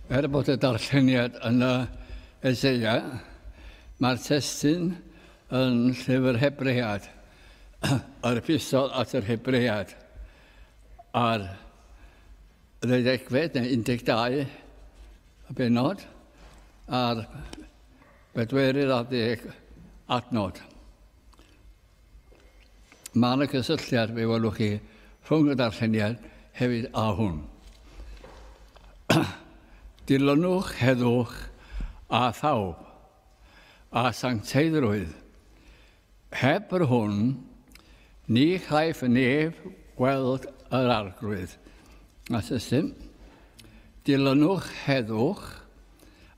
Er bod y darlleniad yn y Eseia, mae'r testun yn llyfr Hebread, yr epistol at yr Hebread, a'r ddeuddegfed neu 12 y benod, a'r bedwerydd ar ddeg adnod. Mae yna gysylltiad, fe welwch chi, rhwng y darlleniad hefyd a hwn. Dilynwch heddwch a thawb a sancteiddrwydd. Heb yr hwn, ni chaiff neb weld yr arglwydd. A system. Dilynwch heddwch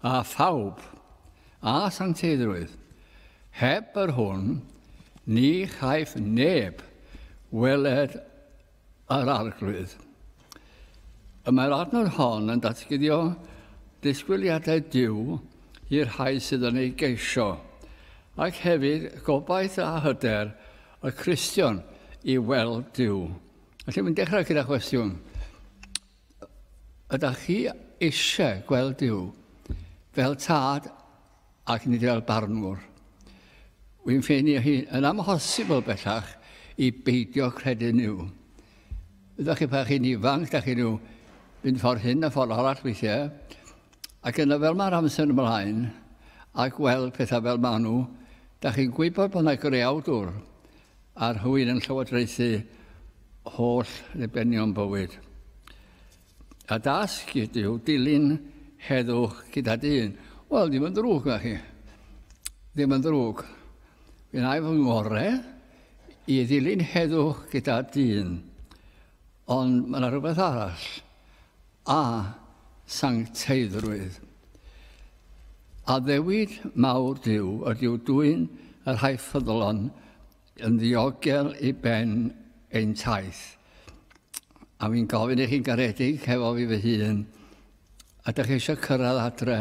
a thawb A sancteiddrwydd. Heb yr hwn, ni chaiff neb weled yr Arglwydd. Y mae'r adnod hon yn datguddio disgwyliadau Duw i'r rhai sydd yn ei geisio, ac hefyd gobaith a hyder y Cristion i weld Duw. Felly mae'n dechrau gyda chwestiwn. Ydych chi eisiau gweld Duw fel tad ac nid fel barnwr? Wy'n ffeini hi yn amhosibl bellach i beidio credu Duw. Ydych chi pa chi'n ifanc, da chi nhw fynd ffordd hyn a ffordd arall weithiau, ac yna fel mae'r amser ymlaen a gweld pethau fel maen nhw, da chi'n gwybod bod yna greawdwr Ar hwyl yn llywodraethu holl ddibenion bywyd. A dasg ydyw dilyn heddwch gyda dyn. Wel, ddim yn ddrwg na chi. Ddim yn ddrwg. Fi'n aif fy ngore i ddilyn heddwch gyda dyn. Ond mae yna rhywbeth arall. a sancteiddrwydd. Addewid mawr Duw ydyw dwyn y rhai ffyddlon yn ddiogel i ben ein taith. A fi'n gofyn i chi'n garedig hefo fi fy hun, ydych chi eisiau cyrraedd adre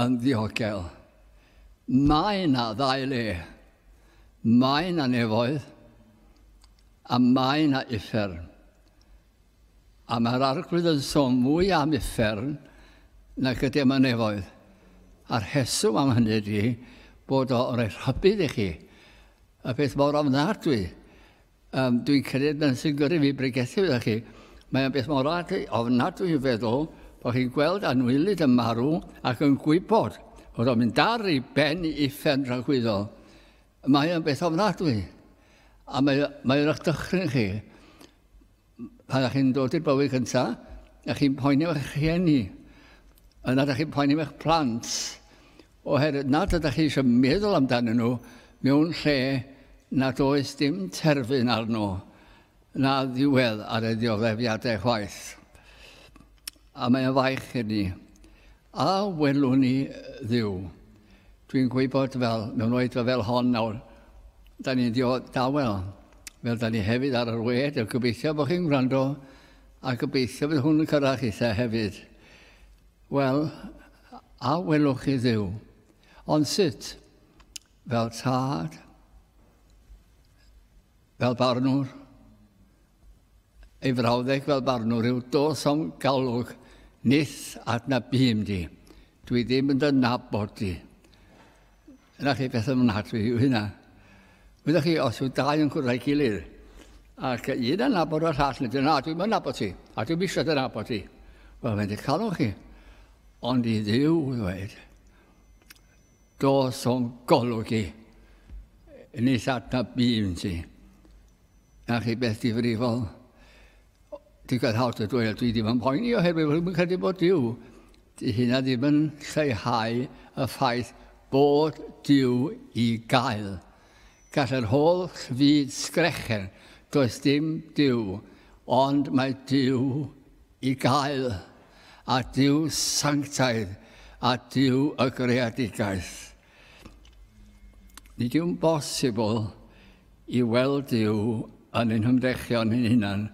yn ddiogel? Mae yna ddau le. Mae yna nefoedd a mae yna uffern. A mae'r Arglwydd yn sôn mwy am uffern nag y demonefoedd. A rheswm am hynny ydy bod o roi rhybudd i chi. Y peth mor ofnadwy. Um, dwi'n credu yn sy'n gyrru fi bregethu fe chi. Mae'n beth mor ofnadwy i feddwl bod chi'n gweld anwylyd yn marw ac yn gwybod bod o'n mynd ar ei ben i uffern rhagwyddo. Mae'n beth ofnadwy. A mae'n mae eich dychryn chi. Pan ydych chi'n dod i'r bywyd gyntaf, ydych chi'n poeni am eich rhieni, yna ydych chi'n poeni am eich plant, oherwydd nad ydych chi eisiau meddwl amdanyn nhw mewn lle nad oes dim terfyn arno na ddiwedd ar ei ddioddeffiadau chwaith. A mae'n faich i ni. A welwn ni ddiw. Dwi'n gwybod fel, mewn oedfa fel hon nawr, da ni'n dio dawel, fel da ni hefyd ar yr wed, a gobeithio bod chi'n gwrando, a gobeithio bydd hwn yn cyrraedd chitha hefyd. Wel, a welwch chi ddiw. Ond sut? Fel tad, fel barnwr, ei frawddeg fel barnwr yw dos am galwg nith adnabym di. Dwi ddim yn dy nabod di. Yna chi beth ymnadwy yw hynna. Wyddoch chi, os yw dau yn cwrdd â'i gilydd, ac un yn nabod o'r llall, nid yna, dwi'n mynd nabod ti, a dwi'n eisiau dy nabod ti. Wel, mae'n di calwch chi. Ond i ddiw ddweud, Does o'n golygu yn ei llata bîn ti. Na chi beth difrifol. Digon hawdd y dweud, dwi ddim yn poeni oherwydd rwy'n yn credu bod Dyw. Di hynna ddim yn lleihau y ffaith bod Dyw i gael. Gall yr holl fyd sgrechen, does dim Dyw, ond mae Dyw i gael. a Duw sanctaidd, a Duw y greadigaeth. Nid yw'n bosibl i weld Duw yn ein hymdrechion yn hunan,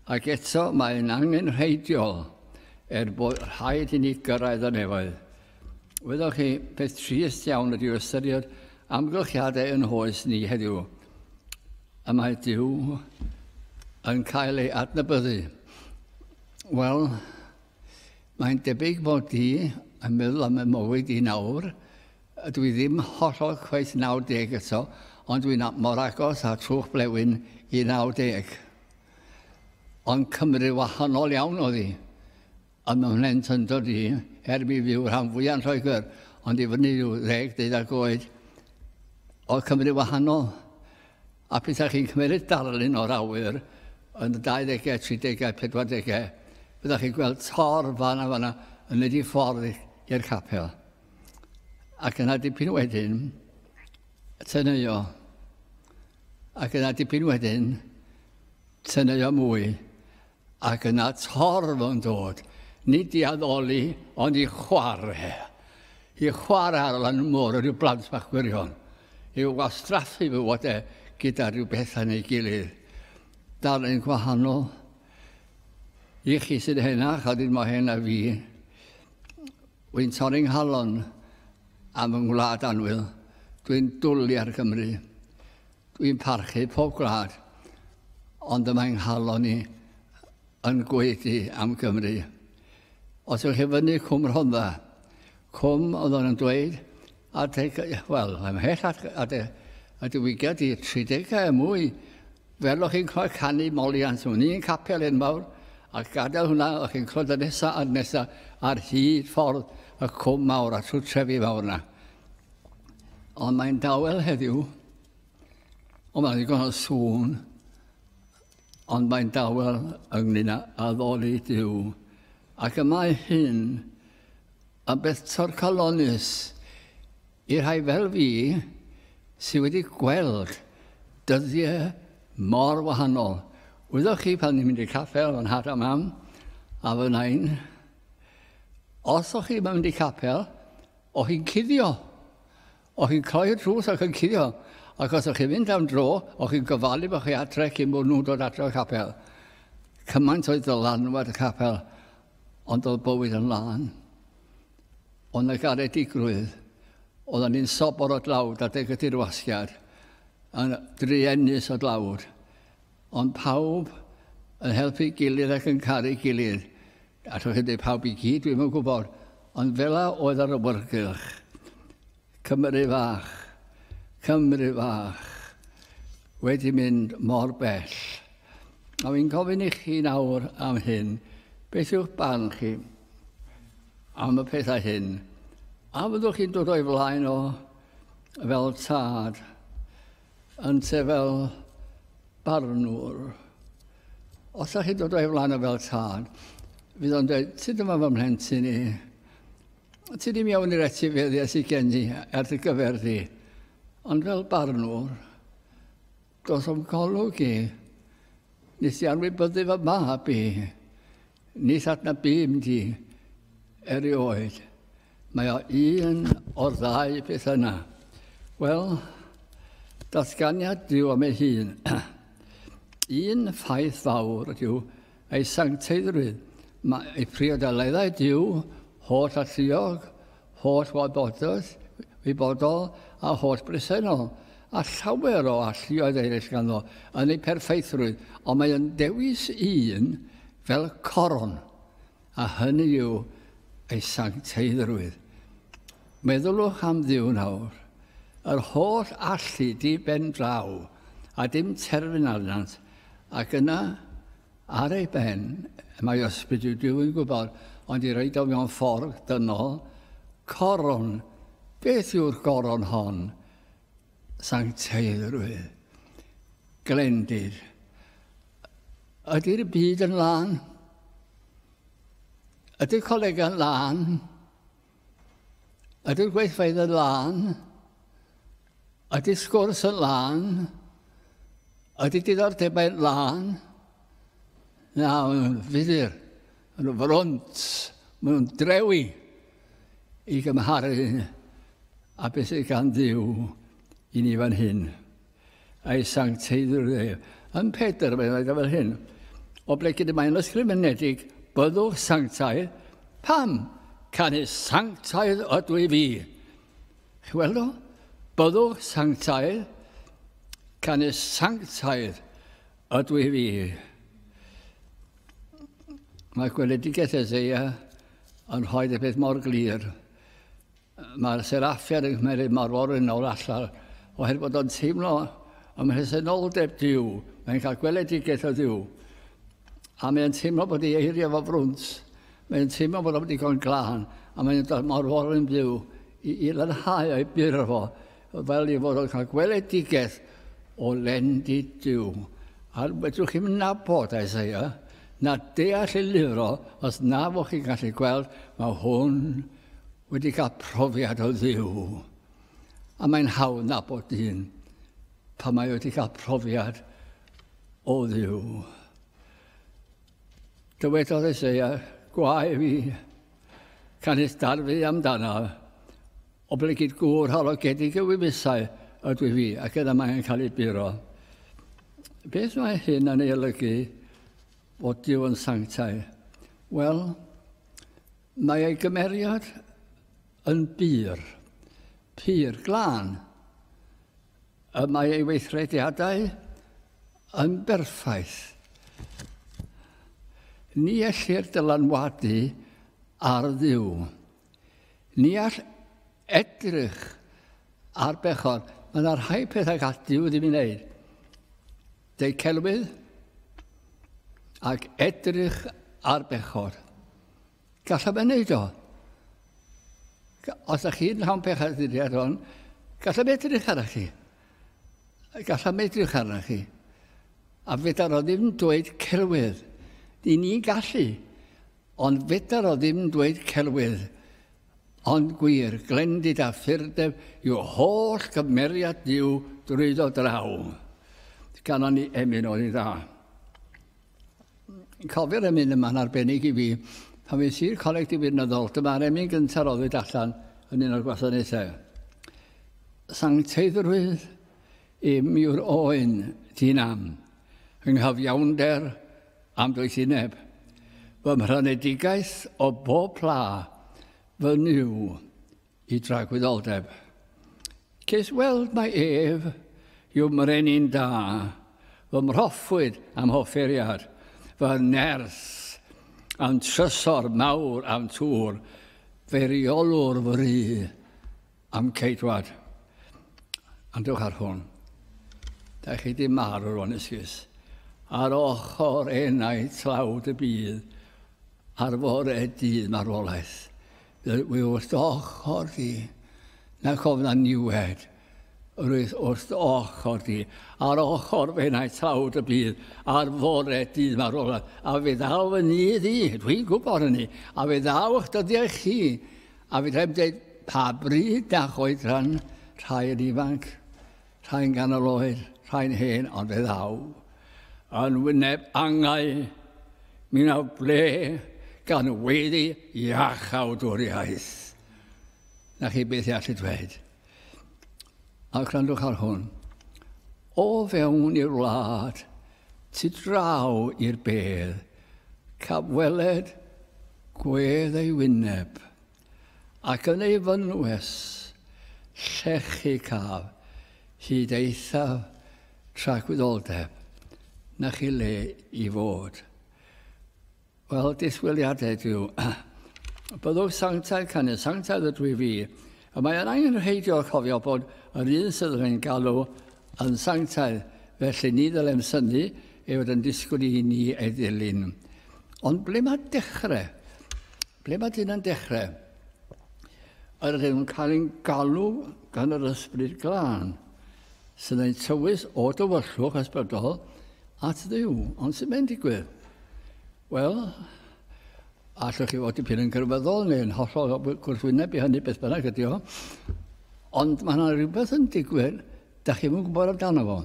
ac eto mae'n angenrheidiol er bod rhaid i ni gyrraedd y nefoedd. Wyddoch chi, peth trist iawn ydyw ystyried amgylchiadau yn hoes ni heddiw. Y mae Dyw yn cael ei adnabyddu. Wel, mae'n debyg bod ti yn meddwl am y mywyd i nawr. Ydw i ddim hollol cweit 90 eto, ond dwi'n mor agos a trwch blewyn i 90. Ond Cymru wahanol iawn oedd hi. Yn y mhlent yn dod i, er mi fyw rhan fwyaf yn Lloegr, ond i fyny rhyw ddeg, deuddag oed, oedd Cymru wahanol. A petaech chi'n cymeryd darlun o'r awyr yn y dauddegau, tridegau, pedwardegau, byddech chi'n gweld tor fan a fan a yn mynd i ffordd i'r capel. Ac yna dipyn wedyn, teneuo. Ac yna dipyn wedyn, teneuo mwy. Ac yna torf yn dod, nid i addoli, ond i chwarae. I chwarae ar lan y môr, rhyw blant bach gwirion. I wastraffu fywod e gyda rhyw bethau neu gilydd. Darllen gwahanol. I chi sy'n henach, a dyn mae hena fi, wy'n torri nghalon am yng ngwlad anwyl. Dwi'n dwlu ar Gymru. Dwi'n parchu pob gwlad, ond y mae nghalon i yn gwaedu am Gymru. Os ywch chi fyny Cwm Rhondda, cwm oedd o'n yn dweud, adeg, wel, mae'n mhell at, at y diwygiad i 30 a mwy, fel o'ch chi'n cael canu moliant mewn un capel enfawr, a gadael hwnna, o'ch chi'n clod y nesaf a'r nesaf ar hyd ffordd y cwm mawr a trwy trefi fawr yna. Ond mae'n dawel heddiw, O, mae'n ddigon o sŵn, ond mae'n dawel ynglyn â addoli Dyw. Ac y mae hyn yn beth torcalonus i rhai fel fi sydd wedi gweld dyddiau mor wahanol. Wyddoch chi pan ni'n mynd i capel yn nhad a mam a fy nain, os o'ch chi'n mynd i capel, o'ch chi'n cuddio. O'ch chi'n cloi'r drws ac yn cuddio, ac os o'ch chi'n mynd am dro, o'ch chi'n gofalu bod chi adre cyn bod nhw'n dod adre o'r capel. Cymaint oedd dylanwad y capel, ond oedd bywyd yn lân. Oedd yna garedigrwydd. Oedden ni'n sobor o dlawd adeg y dirwasgiad, yn druenus o dlawd. Ond pawb yn helpu'i gilydd ac yn caru'i gilydd. Allwch chi ddweud pawb i gyd, dwi'm yn gwybod. Ond fela oedd yr awyrgylch. Cymru fach, Cymru fach, wedi mynd mor bell. A fi'n gofyn i chi nawr am hyn, beth yw'ch barn chi am y pethau hyn? A fyddwch chi'n dod o'i flaen o fel tad? Ynte fel barnwr. Os ydych chi'n dod o'i flaen o fel tad, fydd o'n dweud, ti dyma fy mhlentyn i. Ti ddim iawn i'r etifeddiau sydd gen i ar dy gyfer di. Ond fel barnwr, dos o'm golwg i. Nes i anwybyddu fy mab i. Nid adnab bum di erioed. Mae o un o'r ddau beth yna. Wel, datganiad diw am ei hun. un ffaith fawr ydyw ei sancteiddrwydd. Mae ei priodaleddau diw holl alluog holl wybodaeth wybodol a holl bresennol, a llawer o alluoedd eraill ganddo, yn ei pherffeithrwydd, ond mae yn dewis un fel coron, a hynny yw ei sancteiddrwydd. Meddyliwch am Dduw nawr, yr holl allu di ben draw, a dim terfyn arnynt, ac yna Ar ei ben, mae ysbryd i Duw yn gwybod, ond i reid o mewn ffordd dynol, coron, beth yw'r goron hon? Sancteidrwydd. Glendid. Ydy'r byd yn lân? Ydy colega'n lân? Ydy'r gweithfeydd yn lân? Ydy sgwrs yn lân? Ydy diddordebau'n lân? Na, maen nhw'n fudur, maen nhw'n front, maen nhw'n drewi i gymharu a beth sydd gan ddiw i ni fan hyn. Ei Sancteiddrwydd ef. Ym Pedr, mae'n rhaid fel hyn, o ble gyd y mae'n ysgrifenedig, byddwch sanctaidd. Pam? Canu sanctaidd ydw i fi. Chi weld o? Byddwch sanctaidd. Canu sanctaidd ydw i fi. Mae gweledigaeth Ezeia yn rhoi y peth mor glir. Mae'r seraffiad yn cymeriad mor forin o'r allar, oherwydd bod o'n teimlo am rhesenoldeb Dyw, mae'n cael gweledigaeth o Dduw, a mae'n teimlo bod ei eiriau fo frwnt, mae'n teimlo bod o'n ddigon glân, a mae'n dod mor forin Dduw i, i lanhau o'i byr fo, fel i fod o'n cael gweledigaeth o lendi Dyw. A fedrwch chi'n nabod Isaiah, na deall ei lyfr o, os na fo chi'n gallu gweld, mae hwn wedi cael profiad o Dduw. A mae'n hawdd nabod dyn pan mae wedi cael profiad o Dduw. Dywedodd Eseia, gwae fi, canys darfu amdana, oblegid gŵr halogedig y wyfusau ydw i fi, ac yna mae'n cael ei buro. Beth mae hyn yn ei olygu fod Dyw yn sanctau? Wel, Mae ei gymeriad yn bur, pur glân, y mae ei weithrediadau yn berffaith. Ni ellir dylanwadu ar ddiw. Ni all edrych ar bechod. Mae yna rhai pethau gall diw ddim i wneud. Deu celwydd ac edrych ar bechod. Gallaf ei wneud o. Os ydych chi'n llawn pech ar ddyddiad hon, gallaf edrych arna chi. Gallaf edrych arna chi. A fedar o ddim dweud celwydd. Ni ni'n gallu. Ond fedar o ddim dweud celwydd. Ond gwir, glendid a ffyrdeb yw holl gymeriad Dyw drwyddo draw. Ganon ni emyn o'i dda. Cofio'r emyn yma'n arbennig i fi. Pan fi'n sir coleg diwirnodol, dyma'r emyn gyntaf roddwyd allan yn un o'r gwasanaethau. Sancteiddrwydd i miwr oen ti'n am, yng nghyfiawnder am doethineb. Fy mhrynedigaeth o bob pla, fy nyw, Y dragwyddoldeb. Ces weld mae ef yw mrenin da, fy mhroffwyd am hofferiad, fy nerth am trysor mawr am tŵr, fy rheolwr fy rhy am ceidwad. Andwch ar hwn. Da chi di marw rwan esgus. Ar ochr enau tlawd y bydd, ar fore dydd marwolaeth. Dwi wrth dy ochr di. Na cof na niwed. Rwyf wrth dy ochr di. Ar ochr fe na'i tlawd y bydd. Ar fore dydd mae'r ola. A fe ddaw fy nydd i. Dwi'n gwybod hynny. A fe ddaw eich dyddiau chi. A fe ddaw dweud pa bryd na choedran rhai yn ifanc. Rhai'n ganol oed, rhai'n hen, ond fe ddaw yn wyneb angau mi na ble gan weiddi iach awdwriaeth. Na chi beth i allu dweud. A gwrandwch ar hwn. O fewn i'r wlad, tu draw i'r bedd, caf weled gwedd ei wyneb. ac yn ei fynwes llechi caf hyd eithaf tragwyddoldeb na chi le i fod. Wel, disgwyliadau dyw. Byddwch sanctaidd canu, sanctaidd y dwi fi. A mae yna yn rheidio cofio bod yr un sydd yn ein galw yn sanctaidd, felly ni ddylem syni ei fod yn disgwyl i ni ei ddilyn. Ond ble mae dechrau? Ble mae dyn yn dechrau? Yr ydym yn cael ein galw gan yr ysbryd glân, sy'n ein tywys o dywyllwch ysbrydol at ddiw. Ond sy'n mynd digwydd? Wel, allwch chi fod dipyn yn gyrfyddol neu yn hollol gwrthwyneb i hynny beth bynnag ydy o. Ond mae yna rhywbeth yn digwydd, da chi'n yn gwybod amdano fo.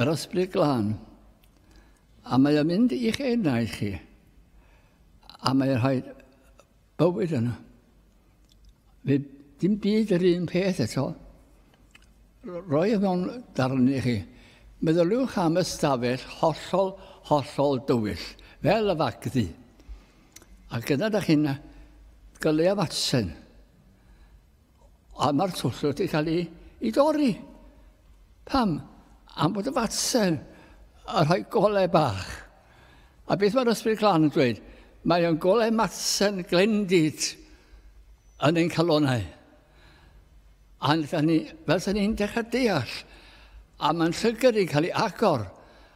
Yr ysbryd glân. A mae o'n mynd i'ch enau chi. A mae rhaid bywyd yna. Fe dim byd yr un peth eto. Roi e mewn darn i chi. Meddyliwch am ystafell hollol, hollol dywyll, fel y fagddi. Ac yna da chi'n gyleu am atsen. Ond mae'r twll wedi cael ei, ei dorri. Pam? Am bod y fatsen yn rhoi golau bach. A beth mae'r ysbryd glan yn dweud? Mae o'n golau matsen glendid yn ein calonau. A ni, fel sy'n ni'n dechrau deall, a mae'n llygr yn cael ei agor,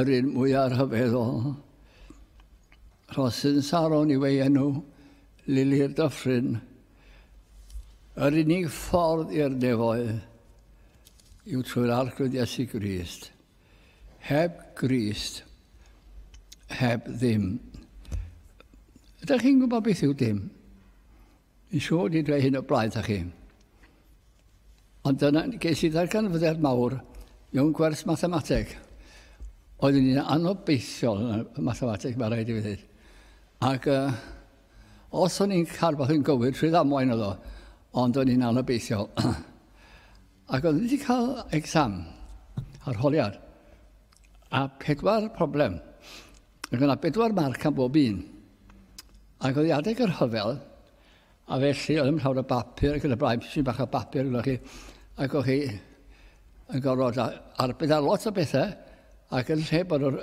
Yr un mwyaf rhyfeddol. Rhosyn Saron yw ei enw, Lili'r Dyffryn. Yr unig ffordd i'r nefoedd yw trwy'r Arglwydd Iesu Grist. Heb Grist, heb ddim. Ydych chi'n gwybod beth yw dim? Dwi'n siŵr di dweud hyn o blaen ta chi. Ond dyna, ges i ddarganfyddiad mawr mewn gwerth mathemateg. Oeddwn ni'n anobeithiol yn y mathemateg, mae rhaid i fi ddweud. Ac uh, os o'n i'n cael beth yn gywir, trwy ddamwain oedd o, ond o'n i'n anobeithiol. Ac oeddwn i wedi cael exam, arholiad, a pedwar problem. Ac yna bedwar marc am bob un. Ac oedd adeg yr hyfel, a felly oedd yn llawer o bapur ac yn y blaen, pysyn bach o bapur gyda chi, ac oedd chi yn gorfod arbed ar lot o bethau, ac yn lle bod yr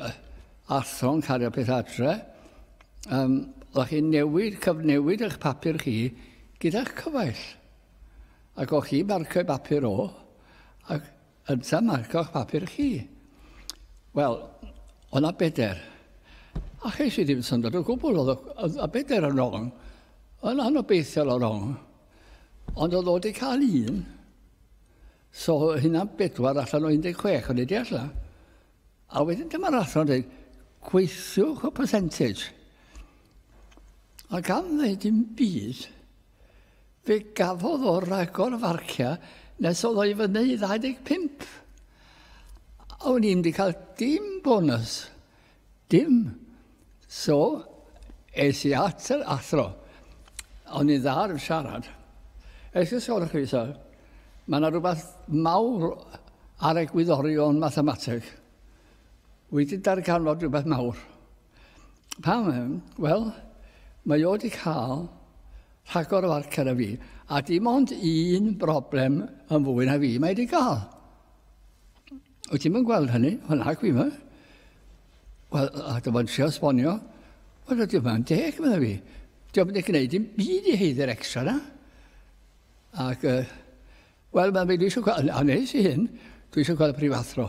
athro'n cario pethau adre, um, oedd chi'n newid, cyfnewid eich papur chi gyda'ch cyfaill. Ac oedd chi marcio'i bapur o, ac Ynta, marco'ch papur chi. Wel, o na beder. A ches i ddim syndod o gwbl, oedd y beder yn wrong. Yn anobeithiol o wrong. Ond oedd o wedi cael un. So hynna bedwar allan o 16 o'n i di allan. A wedyn dyma'r athro yn dweud, gweithiwch y percentage. A gan ddweud dim byd, Fe gafodd o ragor o farciau nes oedd o i fyny i 25. A o'n i'n di cael dim bonus. Dim. So, es i at yr athro. O'n i'n dda ar y siarad. Es i sôn chi, sir. Mae yna rhywbeth mawr ar egwyddorion mathemateg. Wedi darganfod rhywbeth mawr. Pam? Wel, mae o wedi cael rhagor o arcer a fi, a dim ond un broblem yn fwy na fi mae wedi cael. Wyt ti'n mynd gweld hynny? Wel, na, gwi yma. Wel, a dy fod trio sbonio, wel, ydw i'n deg, meddwl fi. Dwi'n mynd i gwneud i'n byd i heiddi'r extra na. Ac uh, Wel, mae mi eisiau cael, a nes i hyn, dwi eisiau cael y prifathro.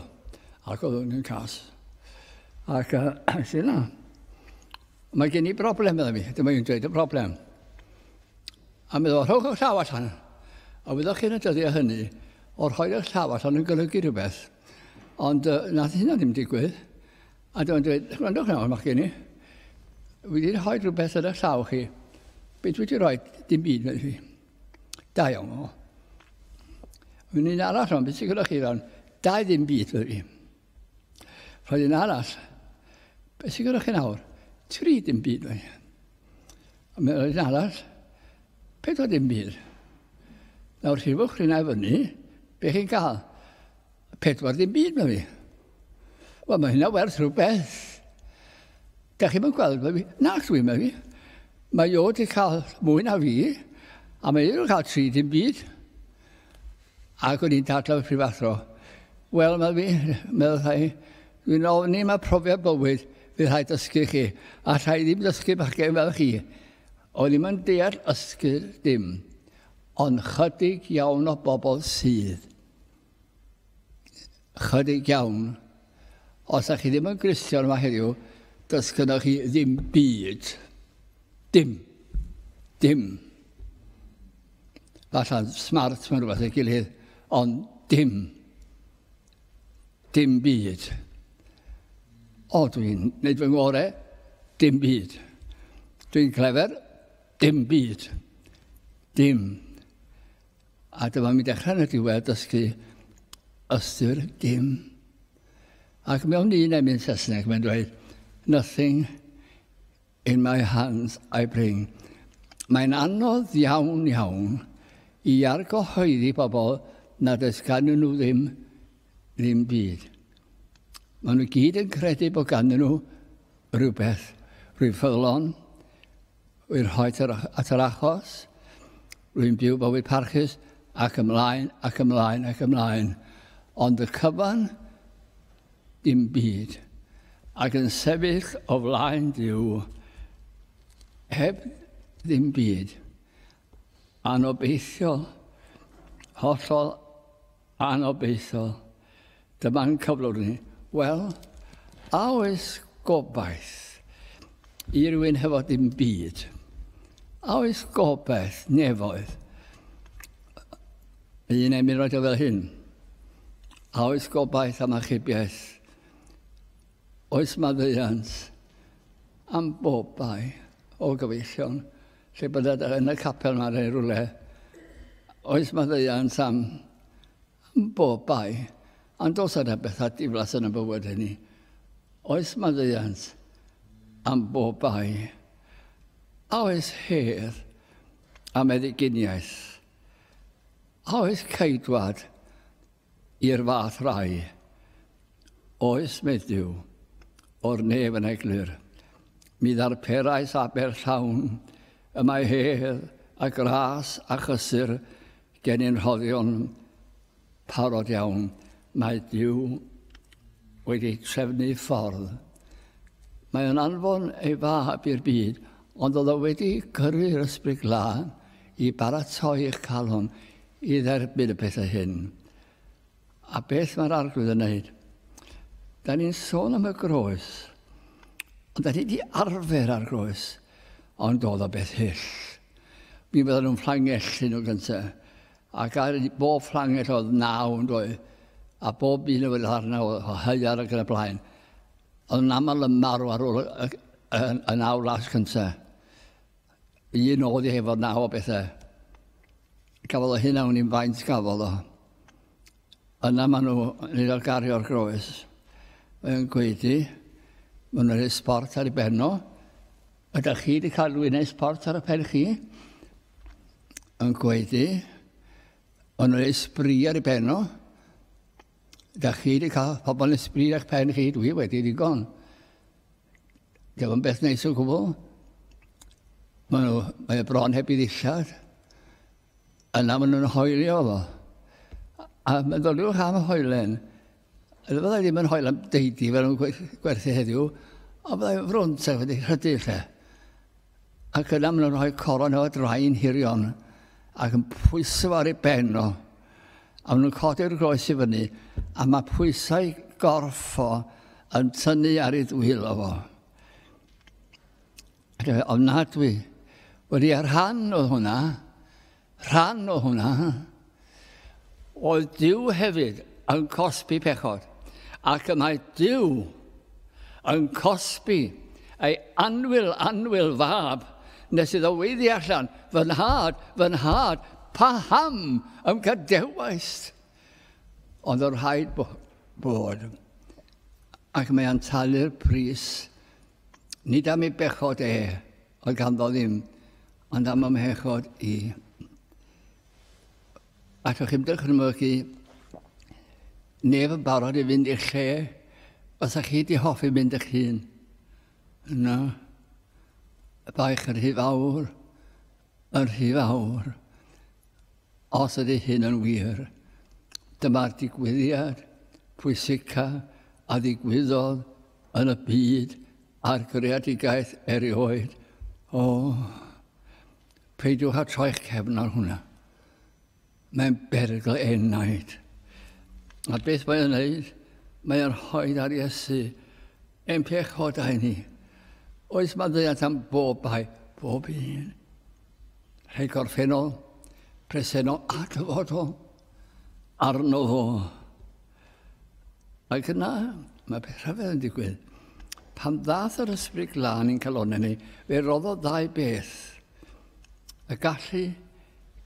Ac oedd yn cas. Ac uh, sy'n na. Mae gen i broblem, meddwl mi. Dyma i'n dweud y broblem. A meddwl, rhowch eich llaw allan. A wyddoch chi'n y dyddiau hynny, o'r rhoi eich llaw allan yn golygu rhywbeth. Ond uh, nath hynna ddim digwydd. A dyma'n dweud, gwrandwch nawr, mae gen i. Wedi rhoi rhywbeth yn eich llaw chi. Beth wedi rhoi? Dim byd, meddwl fi. Da iawn o. Yn un arall o'n beth sy'n gyda chi fan? Da i ddim byd wedi. Rhaid un arall. Beth sy'n gyda chi nawr? Tri ddim byd wedi. A mae'n rhaid un arall. Pedwar ddim byd. Nawr rhifwch rhywna i fyny. Be chi'n cael? Pedwar ddim byd na fi. Wel, mae hynna werth rhywbeth. Da chi'n mynd gweld mae fi? Na, dwi'n mynd fi. Mae o wedi cael mwy na fi, a mae wedi cael tri dim byd. Ac o'n i'n dadla fy prifathro. Wel, mae fi, meddwl rhai, dwi'n ofni mae profiad bywyd fydd rhaid dysgu chi, a rhai ddim dysgu bachgen fel chi. O'n ddim yn deall ysgyd dim, ond chydig iawn o bobl sydd. Chydig iawn. Os ydych chi ddim yn Gristion yma heddiw, does gyda chi ddim byd. Dim. Dim. Falle smart mae'n rhywbeth ei gilydd, ond dim. Dim byd. O, dwi'n neud fy ngore, dim byd. Dwi'n clefer, dim byd. Dim. A dyma mi dechrau yn y diwedd dysgu ystyr dim. Ac mewn un emyn Saesneg mae'n dweud, nothing in my hands I bring. Mae'n anodd iawn iawn i argyhoeddi bobl nad oes ganddyn nhw ddim ddim byd. Maen nhw gyd yn credu bod ganddyn nhw rhywbeth, rhyw ffyddlon, I rhoi at yr achos, rwy'n byw bywyd parchus ac ymlaen ac ymlaen ac ymlaen. Ond y cyfan, dim byd. Ac yn sefyll o flaen Dyw, heb ddim byd. Anobeithiol, hollol Anobeithiol. Dyma'n cyflwr ni. Wel, a oes gobaith i rywun hefo dim byd? A oes gobaith nefoedd? Y un emyn roed o fel hyn. A oes gobaith am achubiaeth? Oes maddeuant am bobau o gyfeillion? Lle bod e yn y capel ma neu rwle. Oes mae ddeiant am bob bai. Ond os yna bethau diflas yn y bywyd hynny. Oes mae ddeiant am bob bai. A oes her am eddyginiaeth. A oes caedwad I'r fath rai, oes medddyw o'r nef yn eglur. Mi ddarperais aber llawn y mae hedd a gras a chysur genyn rhoddion parod iawn. Mae Duw wedi trefnu ffordd. Mae yn anfon ei fab i'r byd, ond oedd o wedi gyrru'r ysbryd glân i baratoi eich calon i dderbyn y pethau hyn, a beth mae'r Arglwydd yn neud. Da ni'n sôn am y groes, ond da ni wedi arfer ar groes, ond oedd o beth hyll. Mi fydden nhw'n fflangellu nhw gyntaf, ac ar bob fflangell oedd naw yn dweud, a bob un oedd arna o haiar ac yn y blaen. Oedd yn aml yn marw ar ôl y, y, y, y naw las cyntaf. Un oedd i hefo naw o bethau. Gafodd o hyn awn i'n faint gafodd o. Yna maen nhw yn un o'r gario'r groes. Mae'n gweud i, maen nhw'n ei sport ar ei benno. Ydych chi wedi cael rhywun ei sport ar y pen chi? Mae'n gweud i, maen nhw'n ei sbri ar ei benno. Ydych chi wedi cael pobl yn ei sbri ar eich pen chi? Dwi wedi ddigon. Dio yn beth neis o gwbl. Mae nhw, mae y bron heb i ddillad. Yna maen nhw'n hoelio fo. A meddyliwch am y hoelen. Ydy fydda ddim yn hoel am deidi fel nhw'n gwerthu heddiw, ond fydda frwnt ac wedi rhydu lle. Ac yna maen nhw'n rhoi coron o draen hirion ac yn pwyso ar ei ben o. A maen nhw'n codi'r groes i fyny a mae pwysau gorff o yn tynnu ar ei ddwyl o fo. Ac efe, ofnadwy, wedi ar rhan oedd hwnna, Rhan o hwnna oedd Dyw hefyd yn cosbi pechod, ac y mae Dyw yn cosbi ei anwyl, anwyl fab, nes iddo weiddi allan, fy nhad, fy nhad, paham ym gadewaist? Ond o'r rhaid bod, ac mae'n talu'r pris, nid am ei bechod e, Oedd ganddo ddim, ond am ymhechod i. Ac o'ch chi'n dychmygu neb yn barod i fynd i'r lle os ych chi di hoffi mynd eich hun. Yna, y baich yn rhy fawr, yn rhy fawr. Os ydy hyn yn wir, dyma'r digwyddiad pwysica a ddigwyddodd yn y byd A'r greadigaeth erioed, o, peidiwch â troi'ch cefn ar hwnna. Mae'n berygl enaid. A beth mae'n gwneud? Mae'n rhoi ar Iesu ein pechodau ni. Oes mae ddeall am bob bai, bob un. Rhai gorffennol, presennol a dyfodol. Arno fo. Ac yna, mae beth rhyfedd yn digwydd. Pan ddath yr ysbryd glân i'n calonau ni, fe roddodd ddau beth. Y gallu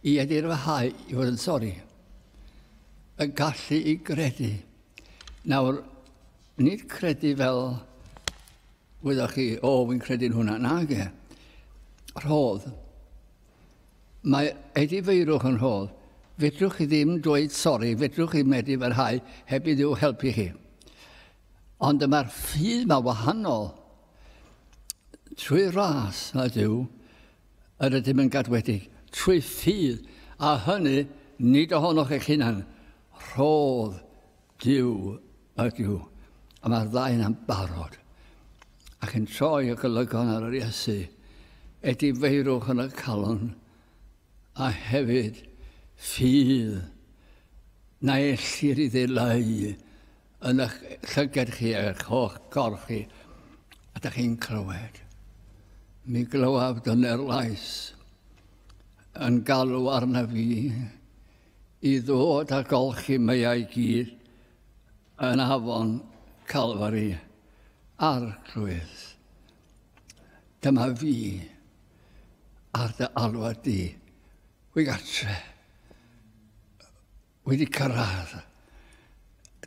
i edirfahau i fod yn sori. Y gallu i gredu. Nawr, nid credu fel wyddoch chi, o, fi'n credu'n hwnna. Na, ge. Rhodd. Mae Eddie Feirwch yn hol. Fedrwch chi ddim dweud sori, fedrwch chi medru parhau heb i Dduw helpu chi. Ond mae'r ffydd mae wahanol. Trwy ras mae Duw yr ydym yn gadwedig, trwy ffydd, a hynny nid ohonoch eich hunan. Rhodd Duw ydyw, a mae'r ddau yna'n barod, ac yn troi y golygon ar yr Iesu, edifeirwch yn y calon, a hefyd ffydd na ellir i ddileu yn eich llyged chi ar eich holl gorff chi, a da chi'n clywed. Mi glywaf dyna'r lais yn galw arna fi, i ddod a golchi meiau gyd yn afon Calfari, Arglwydd, dyma fi ar dy alwad di, wy gartre, wedi cyrraedd.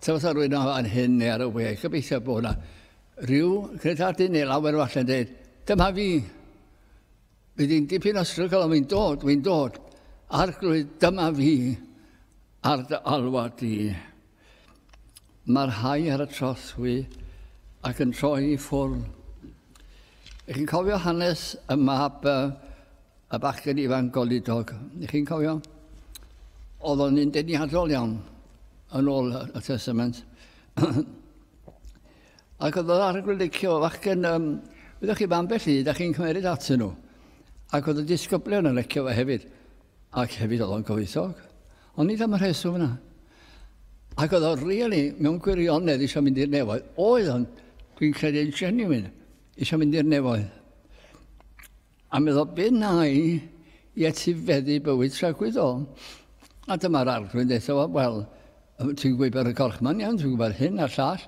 Tywys ar rwy'n fan hyn neu ar y we, gobeithio bod yna rhyw credadyn neu lawer falle yn dweud, dyma fi, Bydd hi'n dipyn o strygl ond fi'n dod, fi'n dod. Arglwydd, dyma fi ar dy alwad di. Mae'r rhai ar y trothwy ac yn troi i ffwrn. Ych chi'n cofio hanes y mab y, y bachgen ifanc golidog? Ych chi'n cofio? Oedd o'n un deniadol iawn yn ôl y Testament. Ac oedd yr arglwydd yn licio fachgen, um, wyddoch chi, mae ambell i, da chi'n cymeryd atyn nhw. Ac oedd y disgyblion yn licio fe hefyd. Ac hefyd oedd o'n gyfoethog. Ond nid am y rheswm yna. Ac oedd o'n really, mewn gwirionedd, eisiau mynd i'r nefoedd. Oedd o'n, dwi'n credu yn genuine, eisiau mynd i'r nefoedd. A meddwl be wnai i etifeddu bywyd tragwyddol? A dyma'r arglwydd ddeutha fo, wel, ti'n gwybod ar y gorch ma'n iawn, ti'n gwybod hyn a'r llall.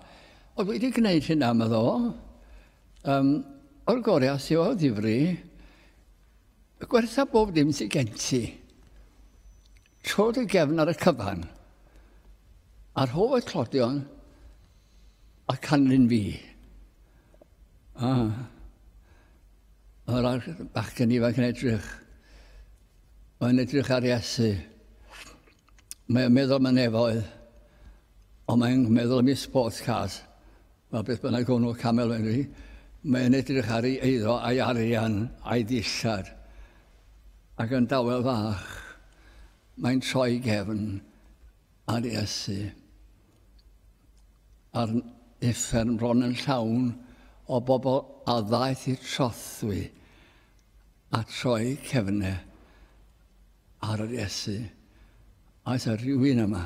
Oedd wedi gwneud hynna, meddwl o, um, o'r gorau os yw o ddifri, gwertha bob dim sy'n gen ti. Trod ei gefn ar y cyfan, a rhof y clodion a canlyn fi. A, yr ar bachgen ifanc yn edrych. Mae'n edrych ar Iesu. Mae'n meddwl mae'n nefoedd. Ond mae'n meddwl am ei sports cars. Mae beth bynnag hwnnw, Camel Henry, mae e'n edrych ar ei eiddo a'i arian a'i ddillad. Ac yn dawel fach, mae'n troi gefn ar Iesu. A'r uffern bron yn llawn o bobl a ddaeth i'r trothwy a troi cefnau ar yr Iesu. Aes ar rhywun yma?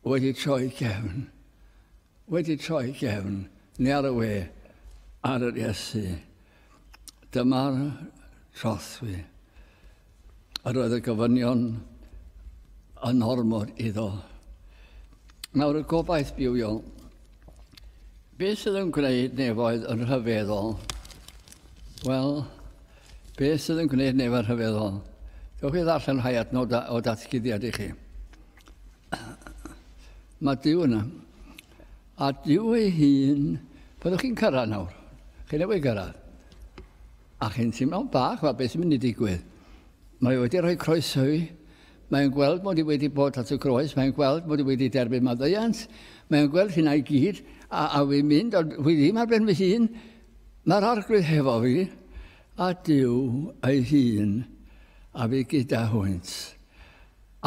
wedi troi cefn, wedi troi cefn, neu ar y we, ar yr Iesu. Dyma'r trothwy. Yr oedd y gofynion yn ormod iddo. Nawr y gobaith bywiol. Beth sydd yn gwneud nefoedd yn rhyfeddol? Wel, beth sydd yn gwneud nefoedd yn rhyfeddol? Dewch i ddarllen rhai adnodau o datguddiad i chi. Mae Dyw yna. A Dyw ei hun, byddwch chi'n cyrraedd nawr. Chi'n newid gyrraedd. A chi'n teimlo'n bach, mae beth yn mynd i digwydd. Mae wedi rhoi croeso i. Mae'n gweld mod i wedi bod at y groes, mae'n gweld mod i wedi derbyn maddeuant, mae'n gweld hynna i gyd, a, a fi'n mynd, ond fi ddim ar ben fy hun, mae'r arglwydd hefo fi, a Dyw ei hun, a fi gyda hwynt.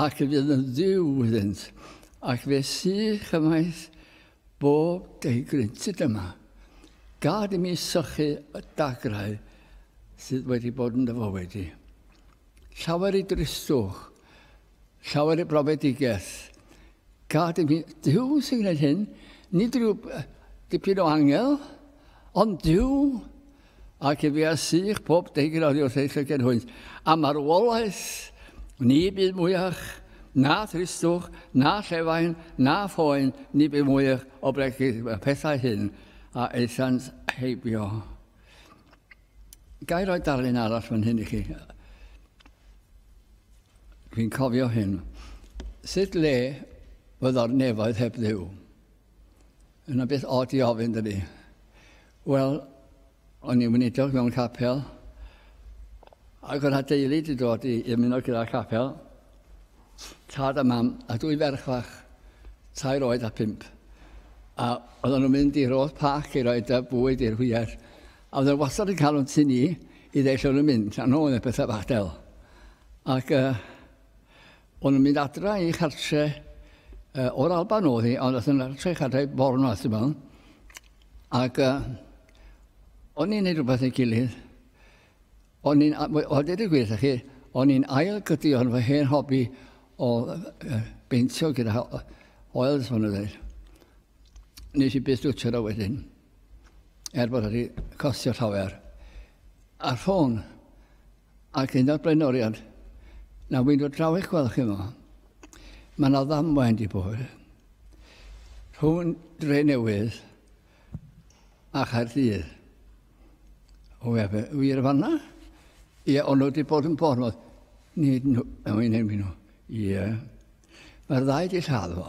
Ac y bydd yn Dduw iddynt, ac fe sy chymaith bob deugryntud yma. Gad i mi sychu y dagrau sydd wedi bod yn dy fywyd di. Llawer i dristwch, llawer i brofedigaeth. Gad i mi, Duw sy'n gwneud hyn, nid rhyw dipyn o angel, ond Duw Ac y fea sych pob degrawd wrth ei llygen hwynt, a marwolaeth ni bydd mwyach na thristwch, na llefain, na phoen, ni bydd mwyach o bregus y pethau hyn a eithant heibio. Gai roi darlun arall fan hyn i chi? Fi'n cofio hyn. Sut le fydda'r nefoedd heb ddew? Yna beth od i ofyn, dydy? Wel, o'n i'n wneudog mewn capel, ac oedd adeulu di dod i ymuno gyda capel, tad a mam, a dwy ferch fach, tair oed a pimp. A oedd nhw'n mynd i roedd pac i roed y bwyd i'r hwyr, a oedd yn wastad yn cael o'n tu ni i ddeill o'n mynd, a nhw'n y pethau bach del. Ac uh, O'n nhw'n mynd adra i chartre uh, o'r Alban oedd hi, ond oedd yn adra i chartre Bornwath, ti'n meddwl. Ac uh, o'n i'n neud rhywbeth ei gilydd. O'n i'n, o dweud y gwir, chi, o'n i'n ail gydi o'n fy hen hobi o uh, beintio gyda oils, o'n dweud. Nes i byth dwtio da wedyn, er bod wedi costio llawer. A'r ffôn, Ac un o'r blaenoriaid, na wy'n dod draw eich gweld chi yma, mae yna ddamwain di bod rhwng Dre Newydd a Chaerdydd. O fe, fe, wir fanna? Ie, ond nhw wedi bod yn bod nhw. Nid nhw, a wy'n enwi nhw. Ie. Mae'r ddau di lladd fo.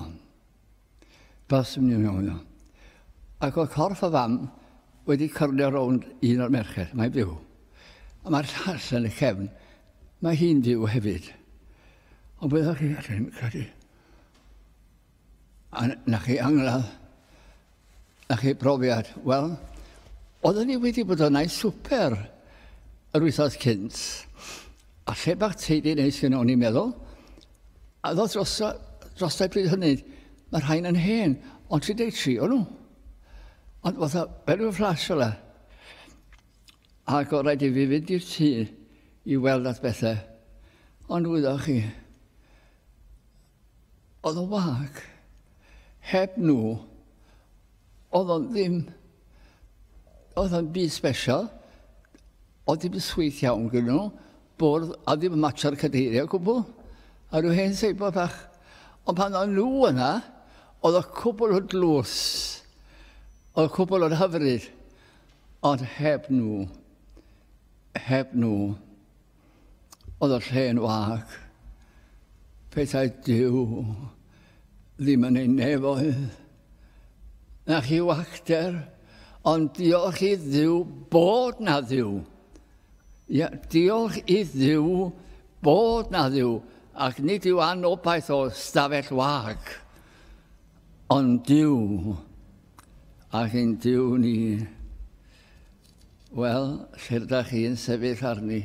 Pas yn mynd iawn iawn. Ac oedd corff y fam wedi cyrlio rownd un o'r merched, mae'n byw. A mae'r llall yn y cefn, mae hi'n byw hefyd. Ond byddwch chi allan credu. A na chi angladd Na chi brofiad? Wel, oedden ni wedi bod yna i swper yr wythnos cynt, a lle bach teidi neis yn o'n i'n meddwl, a ddodd dros, dros y bryd hynny, mae rhain yn hen, ond 33 o'n nhw. Ond fatha, fel yw'n fflash fel Ac o rhaid i fi fynd i'r tŷ i weld at bethau. Ond wyddoch chi, Oedd o'n wag. Heb nhw, oedd o'n ddim... oedd o'n byd special. Oedd ddim yn sweet iawn gyda nhw. Bwrdd, a ddim yn matsio'r cadeiriau o gwbl. A rhyw hen seibl bach. Ond pan oedd nhw yna, oedd y cwbl o dlws. Oedd y cwbl o'r hyfryd. Ond heb nhw. Heb nhw. Oedd y lle'n wag. Pethau Dyw ddim yn ei nefoedd. Na chi wagter, ond diolch i Ddyw bod na Ddyw. Ia, diolch i Ddyw bod na Ddyw, ac nid yw anobaith o stafell wag, ond Dyw, ac yn Dyw ni. Wel, lle'r da chi'n sefyll arni,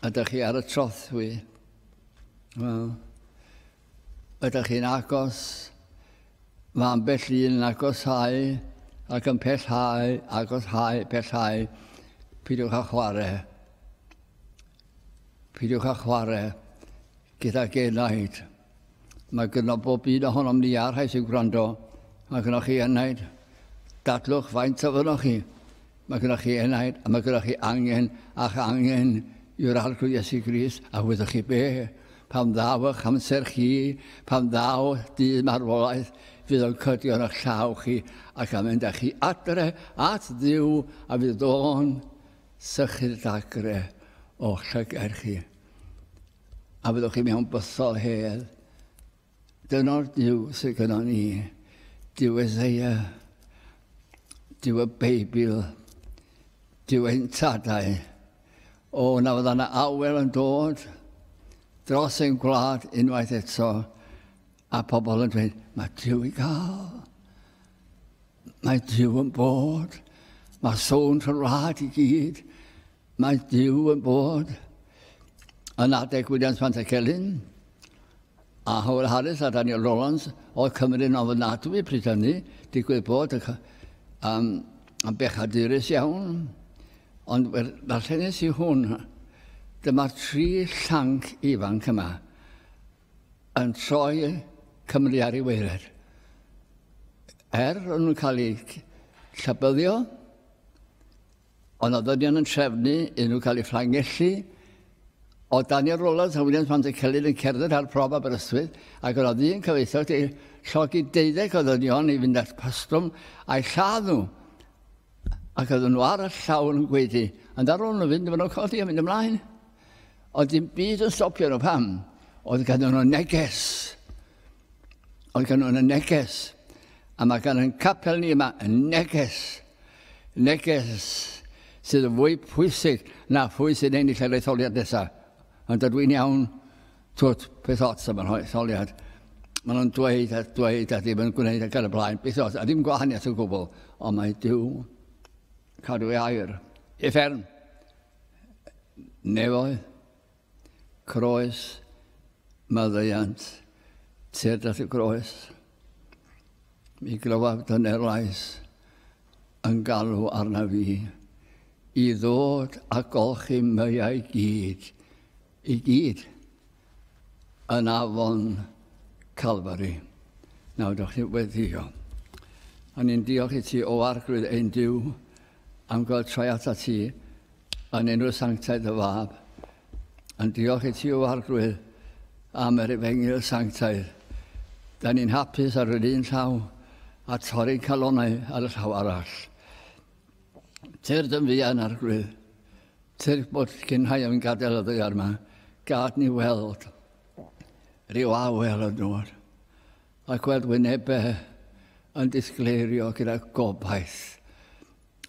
a da chi ar y trothwy, wel, ydych chi'n agos, mae ambell un yn agosau ac yn pellhau, agosau, pellhau, pidiwch â chwarae. Pidiwch â chwarae gyda genaid. Mae gyda bob un ohonom ni a'r rhai sy'n gwrando. Mae gyda chi enaid. Dadlwch faint o fynoch chi. Mae gyda chi enaid a mae gyda chi angen a'ch angen yw'r arglwydd Iesu Gris a wyddoch chi be? Pan ddaw eich amser chi, pan ddaw dydd marwolaeth, fydd o'n cydio yn eich llaw chi ac am mynd â chi adre at ddiw a fydd o'n sychu'r dagre o'ch llygair chi. A fyddwch chi mewn bythol hel. Dyna'r Duw sydd gyda ni. Duw Ezeia, Duw y Beibl, Duw ein tadau. O, na fydda yna awel yn dod dros ein gwlad unwaith eto, a pobl yn dweud, mae Duw i gael. Mae Duw yn bod. Mae sôn trwy'r wlad i gyd. Mae Duw yn bod yn adeg Williams Pantycelyn a Howell Harris a Daniel Rowlands oedd Cymru yn ofnadwy pryd hynny, digwydd bod y, um, yn bechadurus iawn, ond ddarllenis i hwn, dyma'r tri llanc ifanc yma yn troi Cymru ar ei weired. Er o'n nhw'n cael eu llabyddio, O nodweddion yn trefnu iddyn nhw cael eu fflangellu. O Daniel Rowlands a Williams Van der Celyn yn cerdded ar brof Aberystwyth ac yno ddyn cyfoethog wedi llogi deuddeg o ddynion i fynd at pastrwm a'i lladd nhw ac oedden nhw ar y llawr yn gweidi. Ond ar ôl nhw fynd, maen nhw'n codi a mynd ymlaen. Ond dim byd yn stopio nhw. Pam? Oedd ganddyn nhw neges. Oedd gan nhw'n y neges. A mae gan yn capel ni yma y neges. Neges sydd yn fwy pwysig na phwy sy'n ennill yr etholiad nesaf. Ond dydw i'n iawn, twt, peth ots am yr etholiad. Maen nhw'n dweud a dweud a ddim yn gwneud ac ar y blaen. Beth ots, a ddim gwahaniaeth o gwbl. Ond mae Dyw cadw ei air. Efern, nefoedd, Croes, maddeuant, tued at y groes. Mi glywaf dyner lais yn galw arna fi i ddod a golchi meiau gyd, i gyd, yn afon Calfari. Nawr, dych chi wedi o. A ni'n diolch i ti o arglwydd ein Dyw am gael troi atat ti, yn enw sanctaidd dy fab, yn diolch i ti o arglwydd am yr efengyl sanctaidd. Da ni'n hapus ar yr un llaw a torri calonau ar y llaw arall. Tyr dyn fuan arglwydd, tyr bod cynhau yn gadael y ddaear yma, gad ni weld rhyw awel yn dod. Mae gweld wynebau yn disgleirio gyda gobaith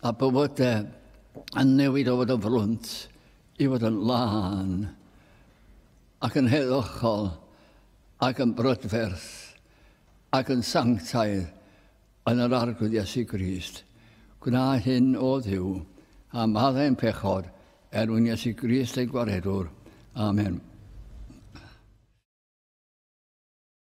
a bywydau yn newid o fod yn frwnt i fod yn lân ac yn heddychol ac yn brydferth ac yn sanctaidd yn yr Arglwydd Iesu Grist. Gwna hyn, o Dduw, a maddau ein pechod, er mwyn Iesu Grist ein gwaredwr. Amen.